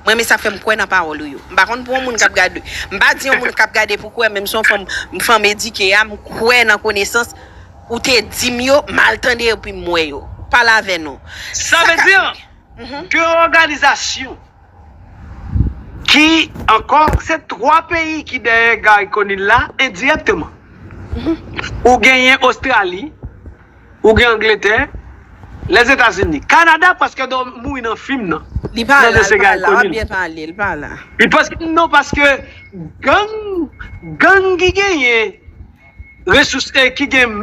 M renmen sa fèm kwè nan pawòl ou yo. M pa konn pou yon moun kap gade m pa di yon moun kap gade pou kwè men m se yon fanm m fanm edike a m kwè nan konesans ou te di m yo m al tande epi m wè yo. Pale avè nou. Sa vle di de òganizasyon ki ankò se 3 peyi ki dèyè Guy Conille la endirèkteman. Ou genyen Ostrali. Ou gen angletè, lèzetazini, kanada paske do mouri nan fim nan. Li pa la li pa la wap byen pale li pa la. Non paske gang gang ki genyen resous e ki gen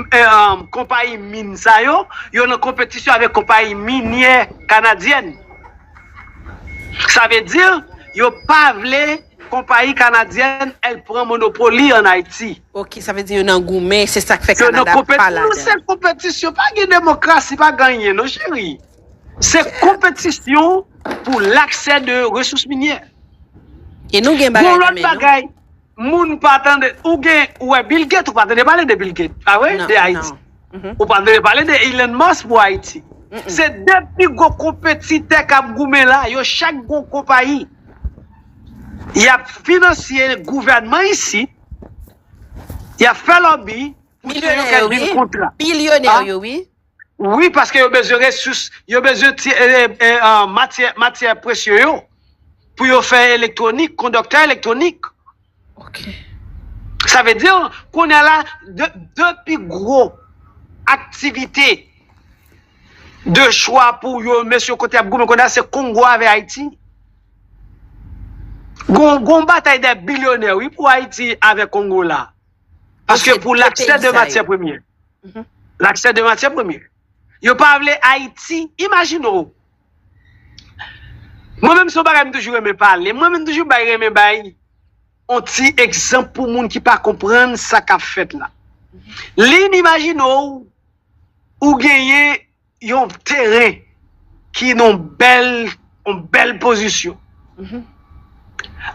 konpayi min sa yo, yo nan konpetisyon avèk konpayi minyè kanadyèn. Sa vle di yo pa vle. Konpayi kanadyèn el pran monopoli an Ayiti. Ok sa vle di yo nan goumen se sak fè Canada pa ladan. Non se konpetisyon pa gen demokrasi pa gen anyen non cheri se konpetisyon pou laksè de resous minyè. E nou gen bagay nan men nou. Moun pa tande ou gen ou wè Bill Gates ou pa tande pale de Bill Gates pa vre de Ayiti ou pa tande pale de Elon Musk pou Ayiti se 2 pi gwo konpetitè kap goumen la yo chak gen yon konpayi. y ap finansye gouvènman isit, y ap fè lòbi pou se yo k ap jwenn kontra. Bilyonè yo wi. Wi, paske yo bezwen resous, yo bezwen matyè presye yo pou yo fè elektwonik, kondoktè elektwonik. Ok. Sa vle di, kounye a la, 2 pi gwo aktivite de chwa pou yo, mesye kote y ap goumen kounye a, se Kongo avè Ayiti. Gon batay dè bilyonè wi pou Ayiti avè Kongo la. Paske pou laksè de matyè premye. Laksè de matyè premye. Yo pa vle Ayiti, imajine w. Mwen menm se yon bagay m toujou renmen pale, mwen menm toujou bay renmen bay yon ti egzanp pou moun ki pa konprann sa k ap fèt la. Lynn imajine w ou genyen yon teren ki nan yon bèl pozisyon,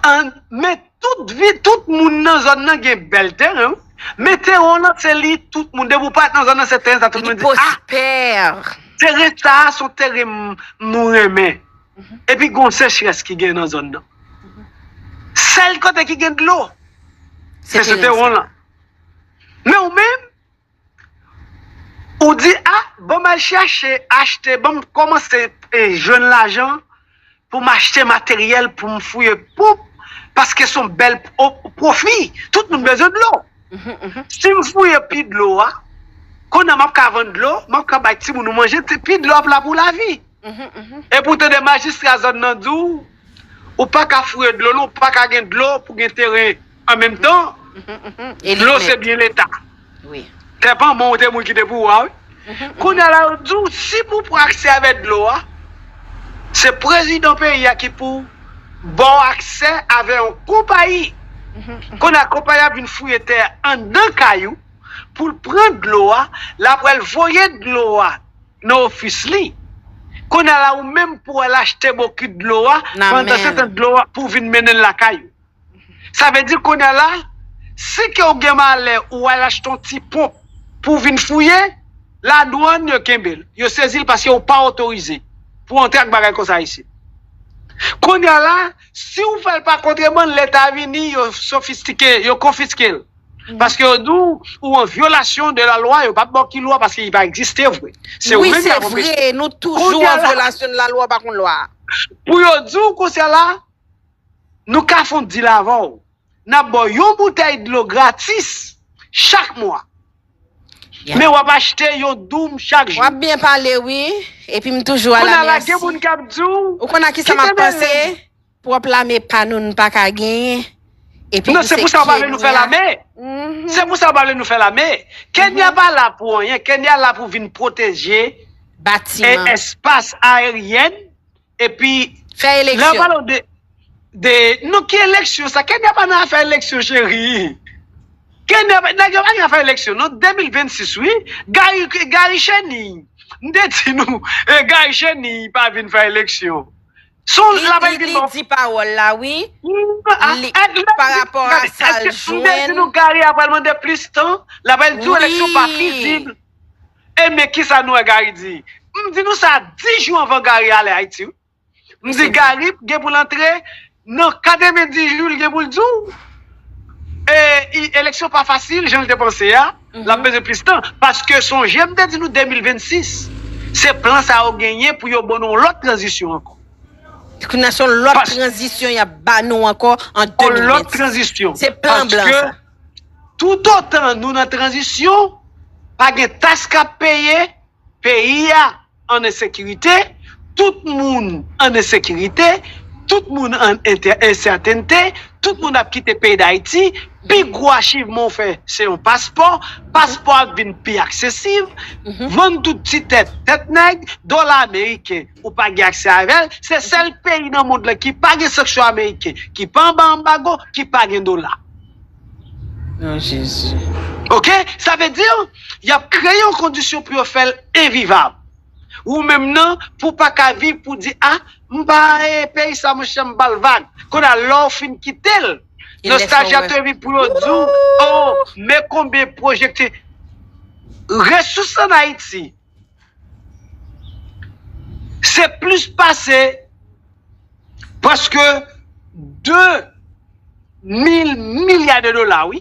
an men Tout vi tout moun nan zòn nan gen bèl teren wi. Men teren w lan se li tout moun. Depi w pa nan zòn nan se teren sa tout moun di ah teren sa son teren m renmen. Epi gon sechrès ki gen nan zòn nan. Sèl kote ki gen dlo se sou teren w lan. Men ou menm. Ou di a bon m al chèche achte bon m kòmanse jwenn lajan pou m achte materyèl pou m fouye ponp paske s on bèl pwofi. Tout moun bezwen dlo. Si m fouye pi dlo a, kounye a m ap ka vann dlo, m ap ka bay timoun nou manje, pi dlo ap la pou lavi. Epi ou tande majistra zòn nan di w ou pa ka fouye dlo non, ou pa ka gen dlo pou gen teren An menm tan, dlo se byen leta. Tè pa mwen ou te moun ki te pou wa wi. Kounye a la yo di w si pou w pran aksè avè dlo a, se prezidan peyi a ki pou ba w aksè avè yon konpayi. Kounye a konpayi a vin fouye tè a anndan kay ou pou l pran dlo a, l ap al voye dlo a nan ofis li. Kounye a la ou menm pou w al achte bokit dlo a, pandansetan dlo a pou w vin mennen l lakay ou. Sa vle di kounye a la, si ke w gen malè ou al achte yon ti ponp pou w vin fouye, ladwann yo kenbe l, yo sezi l paske ou pa otorize pou w antre ak bagay konsa isit. Kounye a la, si w fè l pa kontrebann, leta vini, yo sofistike, yo konfiske l. Paske yo di w ou an vyolasyon de lalwa, yo pap ba w ki lwa paske li pa egziste vre. Se ou menm y ap anpeche. Wi se vre, nou toujou an vyolasyon de lalwa, pa konn lwa. Pou yo di w konsa la, Nou ka fon dil avè w. N ap ba w yon boutèy dlo gratis chak mwa. Men w ap achte yon doum chak jou. Wap byen pale wi, epi m toujou ala merci. Kounya la gen moun kap di w. Ou konn a kisa map panse? Pwòp lame pa nou n pa ka genyen. Epi tou se Kenya. Non se pou sa yo pa vle nou fè lame. Se pou sa yo pa vle nou fè lame. Kenya pa la pou anyen, Kenya la pou vin pwoteje espas aeryèn. epi Fè lè eleksyon. wap pale w de de non ki eleksyon sa kenya pa nan afè eleksyon cheri kenya pa nèg yo pa gen afè eleksyon non 2026 wi gari gari cheniy m te di nou e gari cheniy pa vin fè eleksyon son Li lap li vin li fè di pawòl la wi li pa rapò a sa l m te di jwenn nou gari a pral mande plis tan l ap al di w eleksyon pa wi fizib E men kisa nou wè Gary di, m di nou sa 10 jou anvan Gary ale Ayiti wi. M di Gary gen pou l antre nan 90 jou li gen pou l di w e eleksyon pa fasil jan l te panse a, l ap bezwen plis tan. Paske sonje m te di nou 2026 se plan sa yo genyen pou yo ban nou yon lòt tranzisyon ankò. Kounye a se yon lòt tranzisyon y ap ba nou ankò an 2026. Se plan blan sa. Toutotan nou nan tranzisyon, pa gen taks k ap peye, peyi a an ensekirite, tout moun an ensekirite, tout moun an ensètènte, tout moun ap kite peyi Dayiti, pi gwo achivman w fè se yon paspò, paspò a vin pi aksesiv, vann tout ti tèt, tèt nèg, dola ameriken ou pa gen aksè avè l, se sèl peyi nan mond lan ki pa gen sanksyon ameriken, ki pa anba anbago, ki pa gen dola. Non Jezi. Ok sa vle di yap kreye yon kondisyon pou yo fèl envivab ou menm nan pou paka viv pou di a m pa peyi sa monchè m bal vag kounye a lèw fin kitel nostalji ap trvy pou yo diw oh men konbyen pwojekti resous an ayiti Se plis pase prèske 2 mil milya de dola wi.